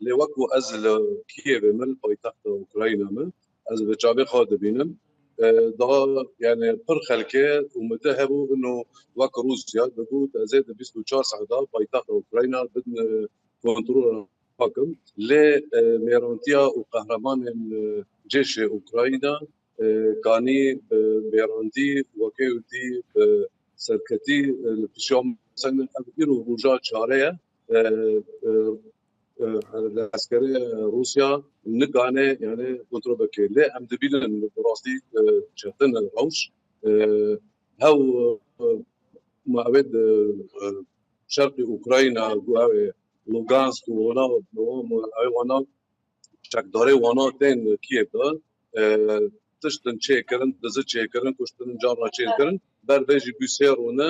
lê wek ku ez li Kiyevê me, li paytexta Ukrayna me, ez bi çavê xwe dibînim da yani pir xelkê û mide hebû ino wek Rusya dibû di zê di bîst û çar saeta paytexta Ukrayna bin kontrola hakim lê mêrantiya û qehremanên cêşê Ukrayna kanî bi mêrandî wekê û dî bi serketî li pişiya me sendin ev îro roja çare ye. Eskerê Rûsya nikane yani kontrol bike lê em dibînin bi rastî çetin in rewş hew ma ew şerqê Ukrayna ku ew ê Lugansk û wana ew wana çekdarê wana tên Kiev de tiştin çêkirin, dizi çêkirin, kuştin, carna çêkirin ber vê jî bûsêr rûne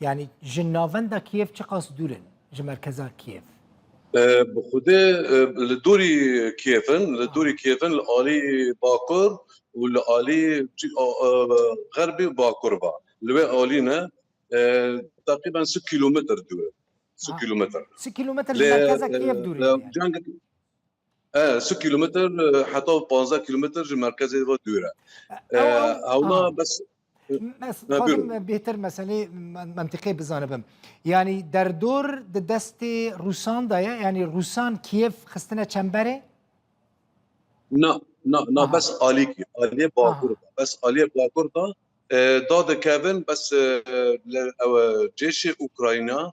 Yanî ji navenda Kîev çiqas dûr in ji merkeza Kîev? Bi xwedê li dûrî Kîev in, li dûrî Kîev in li alî bakur û li alî xerbî û bakur ve. Li wê alî ne teqrîben sih kîlometr dûr in. Sih kîlometr. Sih kîlometr ji merkeza Kîev dûr in. Sih kîlometr heta panzdeh kîlometr ji merkezê ve dûr e. Hewna bes. Xwazim bêtir meselê mentiqê bizanibim. Yanî derdor di destê Rûsan da ye yanî Rûsan Kiev xistine çemberê? Na na na bes alîkî aliyê bakur da bes aliyê bakur da da dikevin bes ew cêşê Ukrayna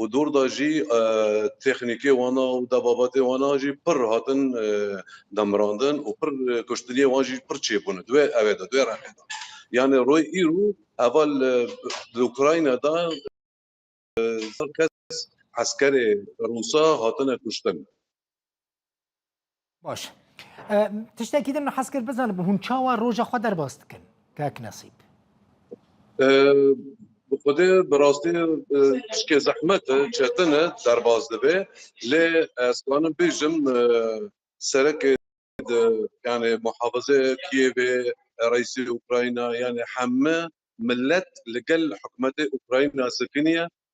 û dor de jî texnîkê wan a û debabatê wan a jî pir hatin demirandin û pir kuştiniyê wan jî pir çêbûne di wê ewê de di wê rexê de. Yanê royê îro heval di Ukrayna de sed kes eskerê rûsa hatine kuştin. Baş e, tiştekî din hez kir bizanim hûn çawa roja xwe derbas dikin kak nesîb. Bi xwedê bi rastî tişkê zehmet e, çetin e derbas dibe lê ez kanim bêjim serekê yani muhafize Kiyevê, reîsê Ukrayna yani heme millet li gel hikûmetê Ukrayna sekiniye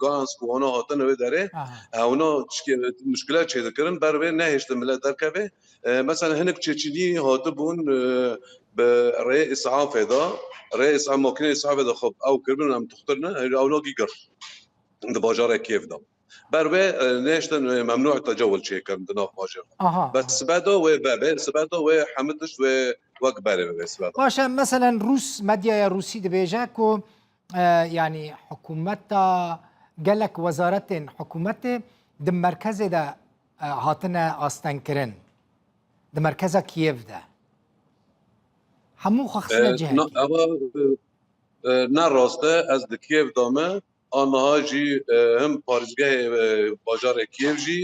Gans ku ona hatine wê derê ona muşkile çê dikirin ber wê nehêştin millet derkevê. Mesela hinek Çeçilî hatibûn bi rê îsafê de rê îsa makine îsafê de xwe ew kiribin em tuxtirine ewna gîgir di bajarê kêv de. Ber wê nehêştin memnû tecewil çêkirin di nav bajêr de. Bes sibeda wê bebê sibeda wê hemû tişt wê wek berê bibê sibeda. Baş e meselen rûs medyaya rûsî dibêje ku yanî hikûmeta gelek wezaretên hikûmetê di merkezê de hatine astengkirin di merkeza Kiev de hemû xwe xistine cih ne rast e ez di Kiev de me aniha jî him parêzgehê bajarê Kiev jî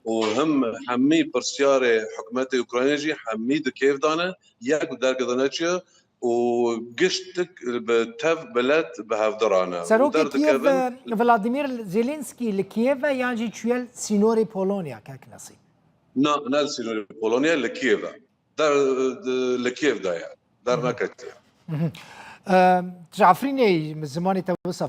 û him hemî pirsyarê hikûmetê Ukraynê jî hemî di kêf de ne, yek bi derg de neçiye û gişt tik bi tev bi let bi hevdira ne û Serokê Kîev derdikevin. Vladimîr Zelensky li Kîev e yan jî çûye li sînorê Polonya Kak Nesîm? Na, ne li sînorê Polonya li Kîev e. Der li Kîev de ye, derneketiye. Ji Efrînê zimanê te wisa.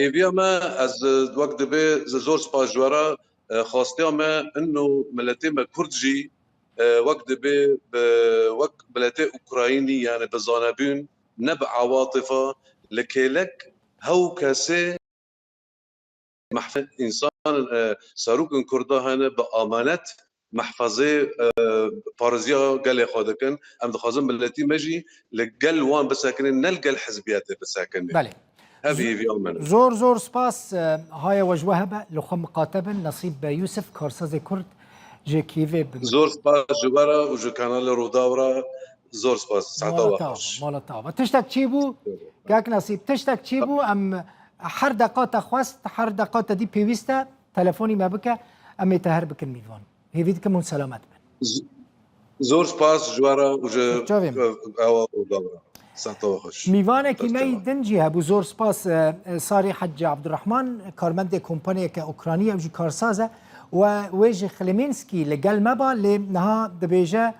Hêviya me ez wek divê ji zor spas ji we re xastiya me in û miletê me kurd jî wek divê bi wek miletê ukrayînî yanî bi zanebûn ne bi awatifa li kêlek hew kesê Mahfê însan in e, serok in kurda hene bi amanet mehfazê pariziya gelê xwe dikin. Em dixwazin miletî me jî li gel wan bisekinê ne li gel hizbiyetê bisekinê. Belê. Hevî hêvî a min e. Zor zor spas Haya we ji we hebe li xwe miqate bin Nasîb Yûsif karsazê kurd ji Kîevê bi min. Zor spas ji we re û ji kanalê Rûdaw re Zor spas. Saeta we baş. Mala te ava. Tiştek çi bû? Kak Nasîb, tiştek çi bû? Em her deqa te xwest, her deqa te dî pêwîst e, telefonî me bike, em ê te her bikin mîvan. Hêvî dikim hûn selamet bin. Zor spas ji we re û ji ewa û bab re. Saeta we xweş. Mîvanekî me yî din jî hebû. Zor spas Sarî Hecî Abdurehman, karmendê kompaniyeke Ukranî ye, ew jî karsaz e û wê ji Xlimînskî li gel me ba lê niha dibêje,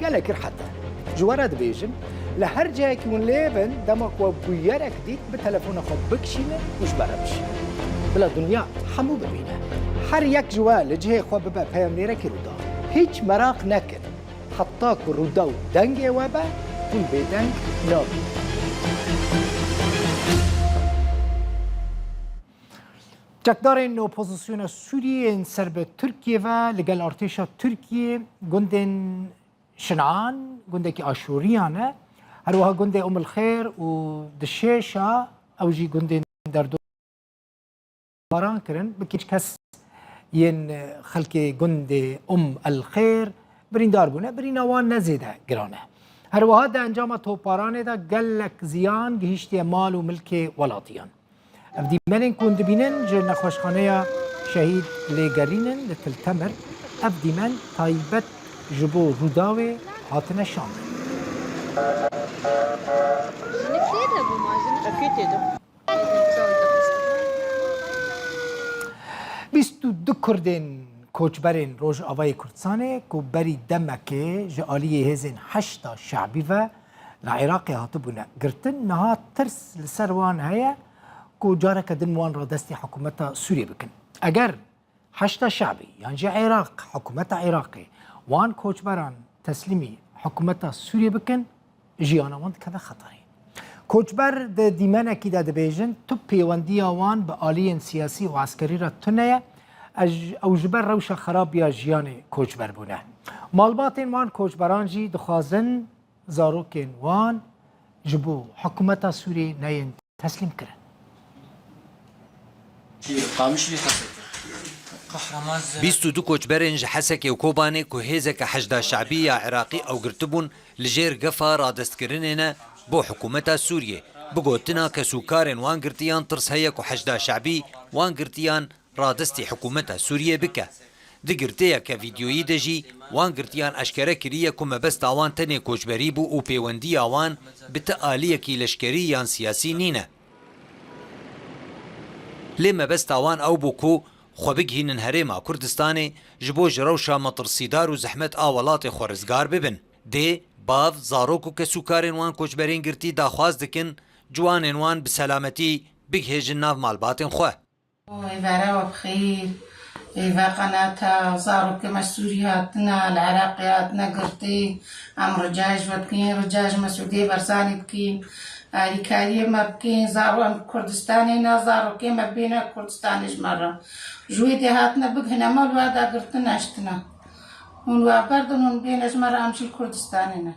Gelek kir heta. Ji we re dibêjim, li her cihekî hûn lê bin, dema ku we bûyerek dît, bi telefona xwe bikişîne û ji me re bişîne. Bila dinya hemû bibîne. Her yek ji we li cihê xwe bibe peyamnêrekî Rûdaw. Hiç meraq nekin, heta ku Rûdaw dengê we be, hûn bêdeng nabînin. Çekdarên opozisyona Sûriyê yên ser bi Tirkiyê ve li gel artêşa Tirkiyê gundên Şinan, gundekî Aşûriyan e, her wiha gundê Umilxêr û Dişêşa ew jî gundên derdo baran kirin bi kîç kes yên xelkê gundê Um El Xêr birîndar bûne, birîna wan ne zêde giran e. Her wiha di encama toparanê de gelek ziyan gihîştiye mal û milkê welatiyan. Ev dîmenên ku hûn dibînin ji Nexweşxaneya Şehîd lê gerîn in li Til Temer. Ev dîmen taybet ji bo Rûdawê hatine şandin. Bîst û du Kurdên koçberên Rojavayê Kurdistanê ku berî demekê ji aliyê hêzên Heşda Şe'bî ve Li Iraqê hatibûne girtin, niha tirs li ser wan heye ku careke din wan radestî hikûmeta Sûriyê bikin. Eger Heşda Şe'bî yan jî Iraq, hikûmeta Iraqê wan koçberan teslîmî hikûmeta Sûriyê bikin, jiyana wan dikeve xeterê. Koçber di dîmenekî de dibêjin, tu pêwendiya wan bi aliyên siyasî û eskerî re tuneye, Ew ji ber rewşa xerab ya jiyanê koçber bûne. Malbatên wan koçberan jî dixwazin zarokên wan ji bo hikûmeta Sûriyê neyên teslîm kirin. Bîst û du koçberên ji Hesekê û Kobanê ku hêzeke Heşda Şe'bî ya Iraqî ew girtibûn, Li jêr gefa radestkirinê ne bo hikûmeta Sûriyê, bi gotina kesûkarên wan girtiyan tirs heye ku Heşda Şe'bî wan girtiyan radestî hikûmeta Sûriyê bike. Di girtiyeke vîdeoyî de jî wan girtiyan eşkere kiriye ku mebesta wan tenê koçberî bû û pêwendiya wan bi ti aliyekî leşkerî yan siyasî nîne. Lê mebesta wan ew bû ku xwe bigihînin herêma Kurdistanê ji bo ji rewşa metirsîdar û zehmet a welatê xwe rizgar bibin. Dê, bav, zarok û kesûkarên wan koçberên girtî daxwaz dikin ciwanên wan bi selametî bigihêjin nav malbatên xwe. Hevera we bi xeyr. Hêva qenata zarokê me ji Sûriyê hatine, li Iraqê hatine girtî. Em rica ji we dikin, rica ji Mesûdê Barzanî dikin, alîkariyê me bikin, zaro em li Kurdistanê ne, zarokê me bêne Kurdistanê ji me re. Ji wê dê hatine bighîne me û li we de girtin eştine. Hûn li we berdin, hûn bêne ji me re, em jî li Kurdistanê ne.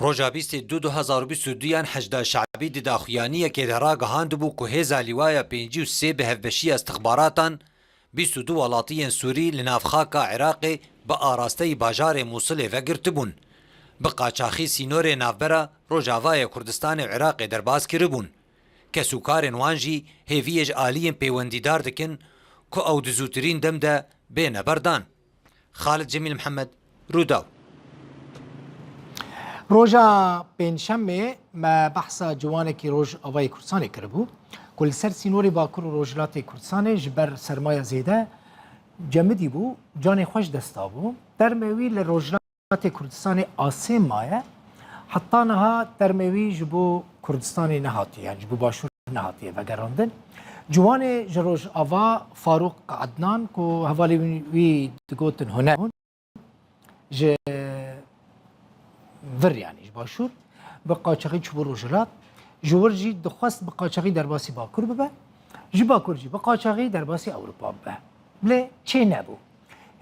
Roja bîstê du du hezar û bîst û du yan Hecda Şe'bî di daxuyaniyekê de ragihandibû ku hêza Lîwaya pêncî û sê bi hevbeşiya îstixbaratan Bîst û du welatiyên Sûrî li nav xaka Iraqê bi arasteyî bajarê Mûsilê ve girtibûn. Bi qaçaxî sînorê navbera Rojavayê Kurdistanê û Iraqê derbas kiribûn. Kesûkarên wan jî hêviyê ji aliyên pêwendîdar dikin ku ew di zûtirîn dem de bêne berdan. Xalid Cemîl Mihemed, Rûdaw. Roja Pêncşemê me behsa ciwanekî Rojavayê Kurdistanê kiribû ku li ser sînorê Bakur û Rojhilatê Kurdistanê ji ber sermaya zêde cemidî bû canê xwe ji dest dabû. Termê wî li Rojhilatê Xatê Kurdistanê asê maye. Heta niha termê wî ji bo Kurdistanê nehatiye yan ji bo başûr nehatiye vegerandin. Ciwanê ji Rojava Farûq Ednan ku hevalê wî digotin huner bûn ji vir yanî ji başûr bi qaçaxî çûbû Rojhilat ji wir jî dixwest bi qaçaxî derbasî Bakur bibe ji Bakur jî bi qaçaxî derbasî Ewropa bibe. Lê çê nebû.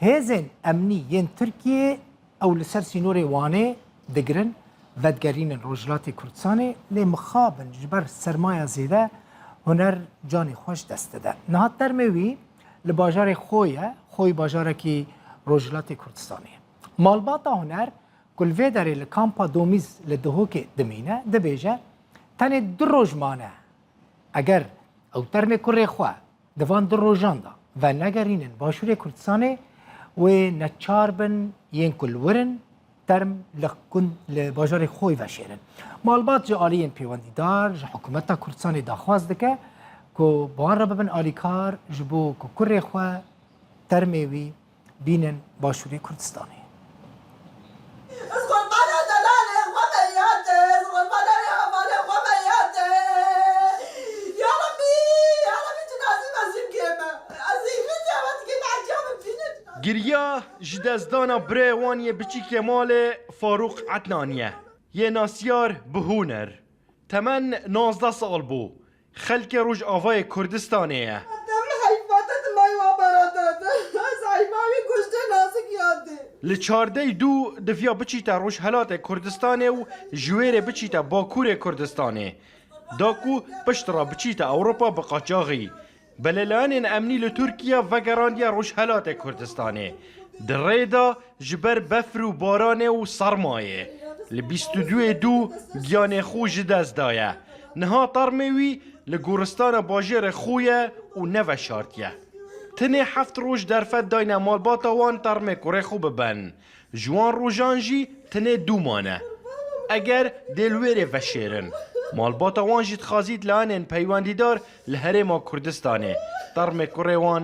Hêzên emnî yên Tirkiyê ew li ser sînorê Wanê digirin, vedigerînin Rojhilatê Kurdistanê lê mixabin ji ber sermaya zêde huner canê xwe ji dest dide. Niha termê wî li bajarê xwe ye, Xoy bajarekî Rojhilatê Kurdistanê ye. Malbata huner ku li vê derê li kampa Domîz li Dihokê dimîne dibêje, Tenê du roj mane eger ew termê kurê xwe Di van du rojan de venegerînin Başûrê Kurdistanê wê neçar bin yên ku li wir in term li gund li bajarê Xoy veşêrin. Malbat ji aliyên pêwendîdar ji hikûmeta Kurdistanê daxwaz dike ku bi wan re bibin alîkar ji bo ku kurê xwe termê wî Bînin Başûrê Kurdistanê. Giriya ji destdana birayê wan yê biçîk yê malê Farûq Ednanî ye. Yê nasyar bi Hûner. Temen nozdeh sal bû. Xelkê Rojavayê Kurdistanê ye. Li çardeyî dû diviya biçîte Rojhelatê Kurdistanê û ji wê rê biçîte Bakurê Kurdistanê. Da ku pişt re biçîte Ewropa bi qaçaxî. Belêleyanên emnî li Tirkiye vegerandiye Rojhelatê Kurdistanê. Di rê de Ji ber befir û baranê û sermayê li bîst û du yê dû giyanê xwe ji dest daye. Niha termê wî li goristana bajêrê xwe ye û neveşartiye. Tenê heft roj derfet dayne malbata wan termê kurê xwe bibin. Ji wan rojan jî tenê du mane. Eger dê li wê rê veşêrin, malbata wan jî dixwazî di layanên peywendîdar li Herêma Kurdistanê termê kurê wan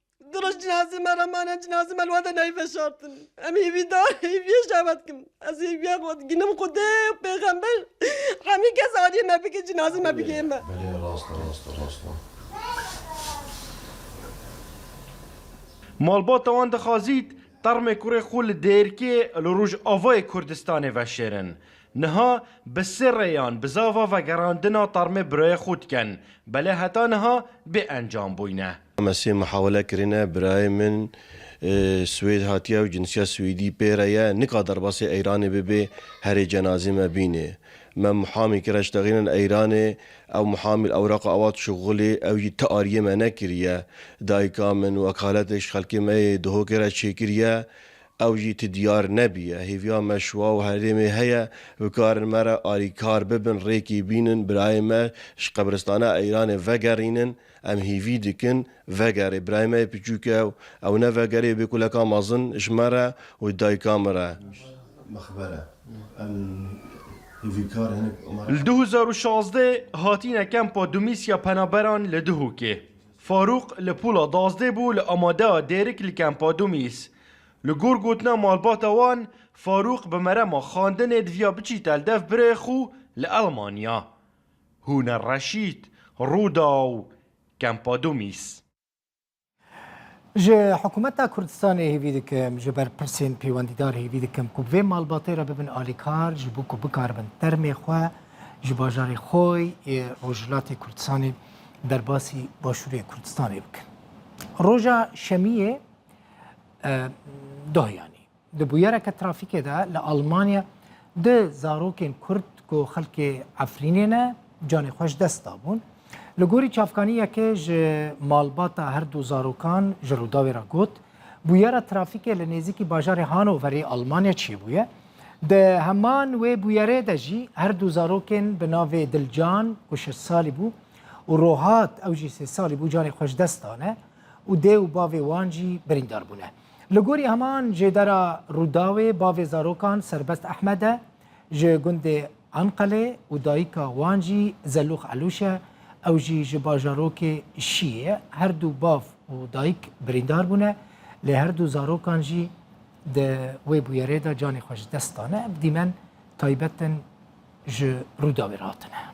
Du roj cinazê me re mane cinazê me li we de nayê veşartin. Em hêvî da hêviyê ji hev dikin. Ez hêviya xwe diginim xwedê û pêxember hemî kes aliyê me bike cinazê me bigihê me. Malbata wan dixwazît termê kurê xwe li Dêrkê li Rojavayê Kurdistanê veşêrin. Niha bi sê rêyan bizava vegerandina termê birayê xwe dikin, belê heta niha bêencam bûyne. Me sê mihawele kirine, birayê min Swêd hatiye û cinsiya Swêdî pê re ye, nika derbasê Eyranê bibê herê cenazê me bînê. Me mihamî kir eş texînin Eyranê, ew mihamî li ewraqa awat şuxulê, ew jî ti ariyê me nekiriye. Dayika min wekaletê ji xelkê me yê Duhokê re çêkiriye, ew jî ti diyar nebîye. Hêviya me şiwa û herêmê heye, bikarin me re arîkar bibin, rêkê bînin, birayê me ji qebiristana Eyranê vegerînin. Em hêvî dikin vegere birayê me yê piçûk e û ew nevegere yê bê kuleka mezin ji me re û ji dayika min re. Li du hezar û şazdeh hatîne kempa Dumîs ya penaberan li Duhokê. Farûq li pûla dazdeh bû li amadeya dêrik li kempa Dumîs. Li gor gotina malbata wan, Farûq bi merema xandinê diviya biçî teldev birêxû li Elmanya. Hûner Reşîd, Rûdaw, Campodumis. Ji Hikûmeta Kurdistanê hêvî dikim, ji berpirsên pêwendîdar hêvî dikim ku vê malbatê re bibin alîkar ji bo ku bikaribin termê xwe ji bajarê Xoy yê Rojhilatê Kurdistanê derbasî Başûrê Kurdistanê bikin. Roja Şemiyê dohiyanî Di bûyereke trafîkê de li Almanya du zarokên Kurd ku xelkê Efrînê ne canê xwe ji dest dabûn. Li gorî çavkanî yekê ji malbata her du zarokan ji Rûdawê re got, Bûyera trafîkê li nêzîkî bajarê Hanoverê Almanya çêbûye. Di heman wê bûyerê de jî her du zarokên bi navê Dilcan ku şeş salî bû û Rohat ew jî sê salî bû canê xwe ji dest dane û dê û bavê wan jî birîndar bûne. Li gorî heman jêdera Rûdawê bavê zarokan Serbest Ehmed e, ji gundê Anqelê û dayika wan jî Zelûx Elûş e, ew jî ji bajarokê Şiyê ye. Her du bav û dayik birîndar bûne, lê her du zarokan jî di wê bûyerê de canê xwe ji dest dane. Ev dîmen taybet in ji Rûdawê re hatine.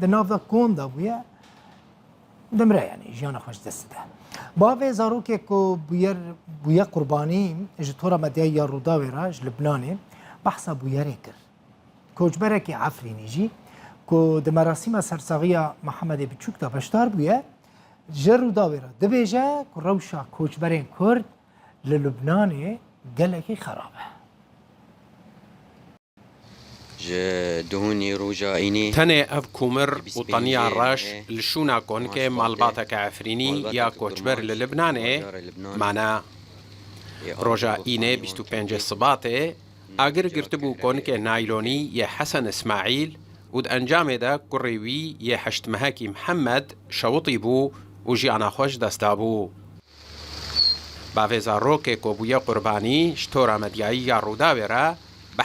Di nav da kom da bûye dimre yanî jiyana xwe ji dest dide. Bavê zarokê ku bûyer bûye qurbanî ji tora medyayî ya Rûdawê re ji Libnanê behsa bûyerê kir. Koçberekî Efrînî jî ku di merasîma sersaxiya Mihemedê Biçûk de beşdar bûye, ji Rûdawê re dibêje ku rewşa koçberên Kurd li Libnanê gelekî xerab e. Ji duhûnî roja înî. Tenê ev komir û taniya reş li şûna konkê malbateke Efrînî ya koçber li Libnanê mane. Roja înê bîst û pêncê Sibatê agir girtibû konkê naylonî yê Hesen Îsmaîl û di encamê de kurê wî yê heşt mehekî Mihemed şewitîbû û jiyana xwe ji dest dabû. Bavê zarokê ku bûye qurbanî ji tora medyayî ya Rûdawê re bi.